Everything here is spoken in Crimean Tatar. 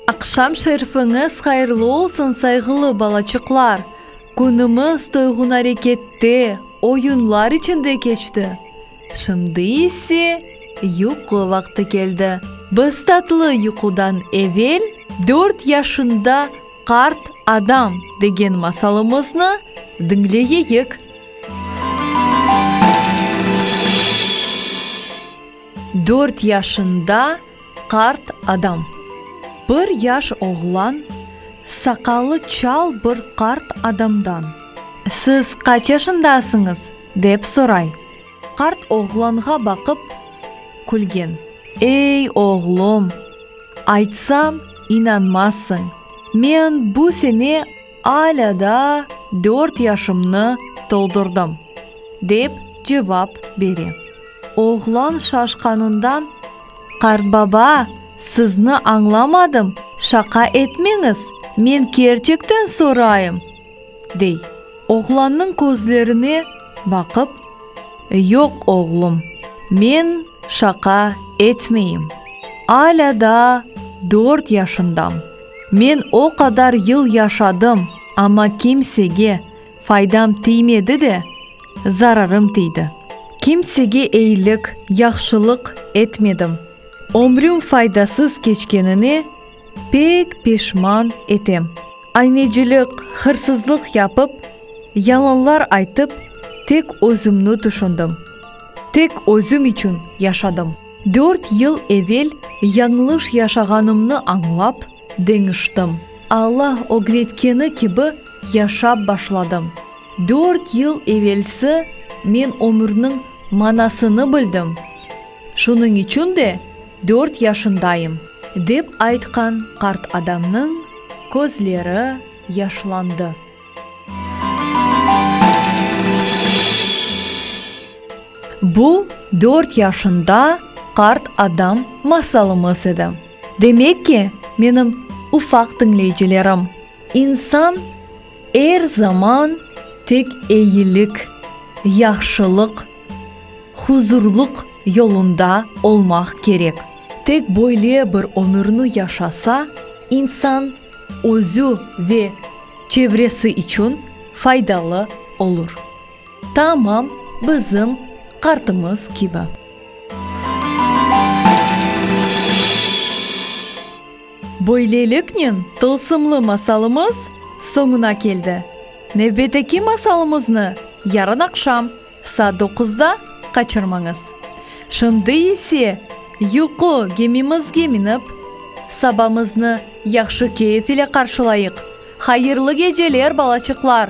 Aqşam şerfiñiz hayırlı olsun, sayğılı balaçıqlar! Künümiz toyğun arekette, oyunlar içinde keçti. Şimdi ise yuqu vaqtı keldi. Biz tatlı yuqudan evel dört yaşında qart adam degen masalımıznı diñleyeyik. Dört yaşında qart adam. Bir yaş oğlan saqalı çal bir qart adamdan. Siz qaç yaşındasıñız? Dep soray. Qart oğlanğa baqıp, külgen. Ey, oğlum, aytsam, inanmazsıñ, men bu sene alâ da dört yaşımnı toldurdım, dep cevap bere. Oğlan şaşqanından, Qartbaba, sizni añlamadım, şaqa etmeñiz, men kerçekten sorayım! Dey, oğlannıñ közlerine baqıp, Yoq, oğlum, men şaqa etmeyim. Alâ daa dört yaşındam. Men o qadar yıl yaşadım, amma kimsege faydam tiymedi de, zararım tiydi. Kimsege eyilik, yahşılıq etmedim. Ömrüm faydasız keçkenine, Pek peşman etem. Aynecilik, hırsızlıq yapıp, yalanlar aytıp, tek özümni tüşündim. Tek özüm içün yaşadım. Dört yıl evel yañlış yaşağanımnı añlap, deñiştim. Alla ögretkeni kibi yaşap başladım. Dört yıl evelsi men ömürniñ manasını bildim. Şunıñ içün de. Dört yaşındayım, dep aytqan qart adamnıñ közleri yaşlandı. Bu, dört yaşında qart adam masalımız edi. Demek ki, menim ufaq diñleycilerim, insan er zaman tek eyilik, yahşılıq Huzurlıq yolunda olmaq kerek. Tek böyle bir ömürni yaşasa, insan özü ve çevresi içün faydalı olur. Tamam bizim qartımız kibi. Böyleliknen, tılsımlı masalımız soñuna keldi. Nevbeteki masalımıznı yarın aqşam saat doquzda qaçırmañız. Şimdi ise yuqu gemimizge minip, sabamıznı yahşı keyf ile qarşılayıq. Hayırlı geceler, balaçıqlar!